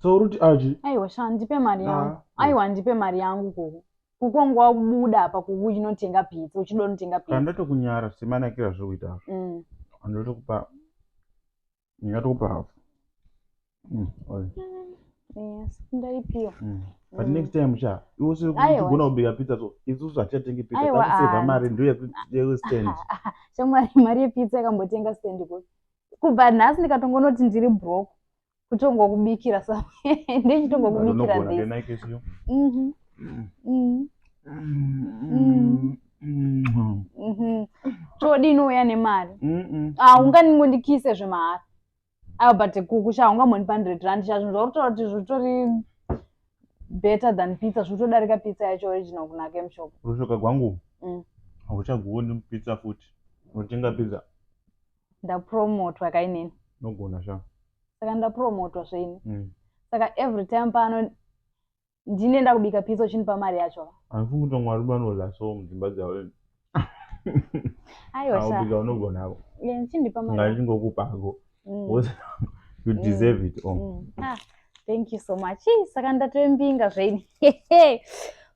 so uruti aji aiwa sha ndipe mari yangu ah, aiwa ndipe mari yangu koko kukongo wakubuda apa kuku uchinotenga pizza uchida unotenga pizza ndotokunyara semanakira zviri kuita azvo mm. ndotokupa ndingatokupa hafu mm, mm, yes ndaipiwa mm. but mm. next time sha iwe usirikugona kubika pizza so isusu hatichatengi pizza takuseva mari ndoyestand shamwari mari yepizza yakambotenga stand ko kubva nhasi ndikatongonoti ndiri broke kutongokubikira sa ndichitongokubikira this mhm. mm. Mm. Mm. Mhm. todi inouya nemari ah, unganingondikise zvemahara ayo but kuku sha ungamoni pa hundred rand sha zvinhu zvakutotaura kuti zvitori better than pizza zvitodarika pizza yacho original kunaka emushop rushoka gwangu hauchagoni pizza futi unotenga pizza ndapromotwa kainini nogona sha saka ndapromotwa zveini mm. saka every time pano ndine ndakubika pizza uchindipa mari yacho handifungi kuti vamwe varume vanorla so mudzimba dzavo aiwabika unogona ako ndichindipa mari ngandingokupa ako mm. you mm. deserve it oh. mm. ah, thank you so much saka ndatoembinga zveini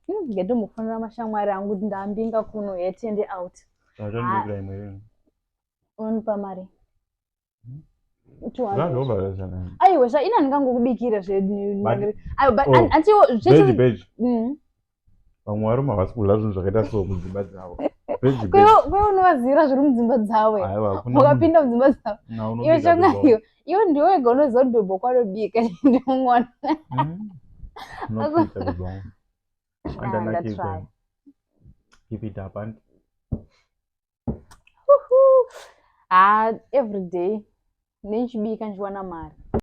hmm, ngendomufonera mashamwari angu kuti ndambinga kuno yetende out ah. unonipa mari aiwe zvaina ndingangokubikira zvebeji mm. vamwe varume havasi kudla zvinhu zvakaita so mudzimba dzavo kwewe unovaziira zviri mudzimba dzavo wakapinda mudzimba dzavo iwe chongayo iwe ndiwe wega unoziva kuti bhebho kwanobika ndimwana mm. haa everyday nechibika ndichiwana mari.